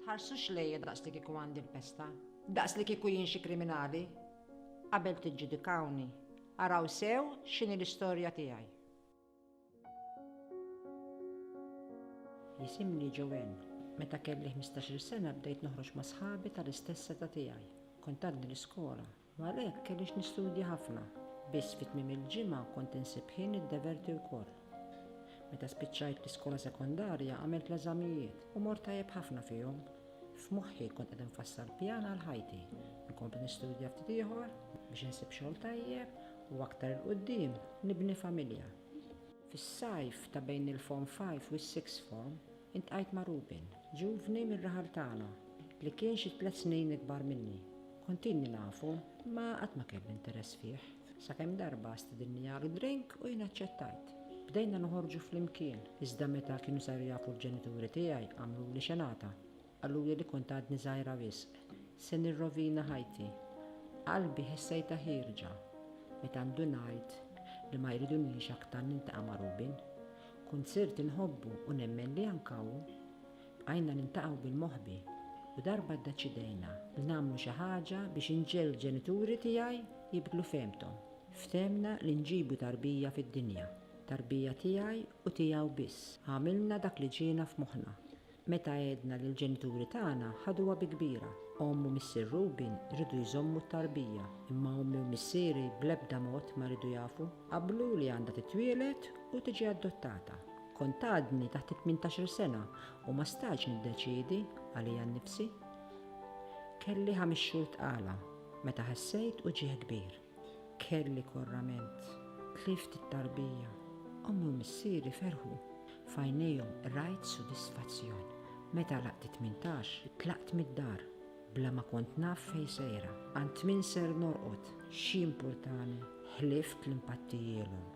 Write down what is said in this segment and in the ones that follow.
Tħarsux lejja daqs li kieku għandi l-pesta, daqs li kieku jien xi kriminali. Qabel tiġġudikawni, araw sew x'inhi l-istorja tiegħi. Jisimni Joanne. Meta kelli ħmistax-il sena bdejt noħroġ ma' sħabi tal-istess età tiegħi. Kont għadni l-iskola U għalhekk kellix nistudja ħafna. Biss fi tmiem il-ġimgħa kont insib ħin niddeverti wkoll. Meta spiċċajt l-iskola sekondarja għamilt l-eżamijiet u mort tajjeb ħafna fihom. F'moħħi kont qed infassal pjan għal ħajti, inkompli nistudja ftit ieħor biex insib xogħol tajjeb u aktar 'il quddiem nibni familja. Fis-sajf ta' bejn il-Form Five u s-Sixth Form, Iltqajt ma' Ruben, ġuvni mir-raħal tagħna, li kien xi tliet snin ikbar minni. Kont ilni nafu, imma qatt ma kelli interess fih, sakemm darba stidinni għal drink u jien aċċettajt. Bdejna noħorġu flimkien, iżda meta kienu saru jafu l-ġenituri tiegħi għamluli xenata. Qaluli li kont għadni żgħira wisq. Se nirrovina ħajti. Qalbi ħessejtha ħierġa meta ndunajt li ma jridunix aktar niltaqa' ma' Ruben. Kunsirt inħobbu u nemmen li anke hawn bqajna niltaqgħu bil-moħbi u darba ddeċidejna li nagħmlu xi ħaġa biex inġegħel il-ġenituri tiegħi jibdlu fehmthom. Fthemna li nġibu tarbija fid-dinja, tarbija tiegħi u tiegħu biss. Għamilna dak li ġiena f'moħħna. Meta għedna li l-ġenituri tagħna ħaduha bi kbira, omm u missier Rubin riedu jżommu t-tarbija, imma ommi u missieri bl-ebda mod ma riedu jafu. Qablu li għandha titwieled u tiġi adottata. Kont għadni taħt it-tmintax-il sena u ma stajtx niddeċiedi għalija nnifsi. Kelli ħames xhur tqala meta ħassejt uġigħ kbir. Kelli korrament, tlift it-tarbija. Ommi u missieri ferħu. F'għajnejhom rajt sodisfazzjon. Meta laqt it-tmintax, tlaqt mid-dar, bla ma kont naf fejn sejra, għand min ser norqod. X'jimpurtani, ħlift li mpattijielhom.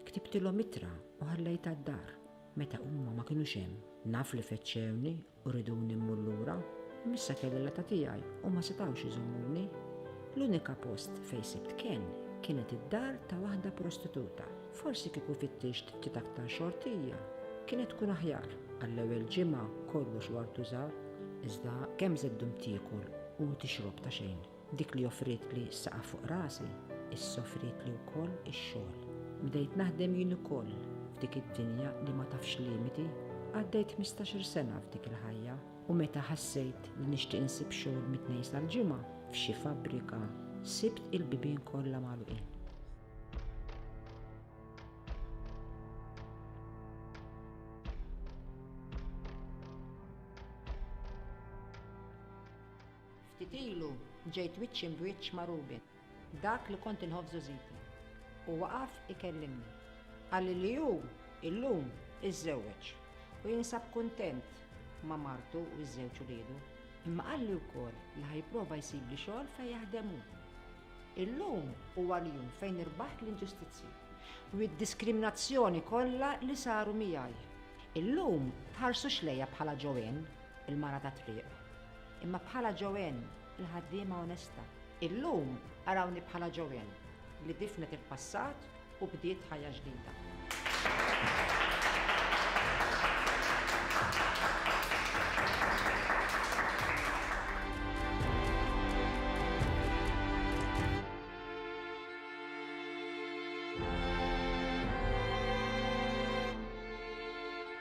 Ktibtilhom ittra u ħallejtha d-dar. Meta huma ma kinux hemm, naf li fettxewni U riduni mmur lura, missa kelli l-età tiegħi u ma setgħux iżommuni. L-unika post fejn sibt kenn kienet id-dar ta' waħda prostituta. Forsi kieku fittixt ftit aktar xortija, kienet tkun aħjar. Għall-ewwel ġimgħa kollox wartu żahar, iżda kemm żeddum tiekol u tixrob ta' xejn. Dik li offrietli s-saqaf fuq rasi, issa offrietli wkoll ix-xogħol. Bdejt naħdem jien ukoll f'dik id-dinja li ma tafx limiti. Għaddejt ħmistax-il sena f'dik il-ħajja u meta ħassejt li nixtieq insib xogħol mit-Tnejn sal-Ġimgħa f'xi fabbrika, sibt il-bibien kollha magħluqin. Ftit ilu ġejt wiċċ imbwiċċ ma' Ruben, dak li kont inħobb żużiti, u waqaf ikellimni. Qalli li hu illum iżżewweġ u jinsab kuntent ma' martu u ż-żewġ uliedu, imma qalli wkoll li ħa jipprova jsibli xogħol fejn jaħdem hu. Illum huwa l-jum fejn irbaħt l-inġustizzji u d-diskriminazzjoni kollha li saru miegħi. Illum tħarsux lejja bħala Joanne, il-mara tat-triq. Imma bħala Joanne, il-ħaddiema onesta. Illum arawni bħala Joanne, li difnet il-passat u bdiet ħajja ġdida.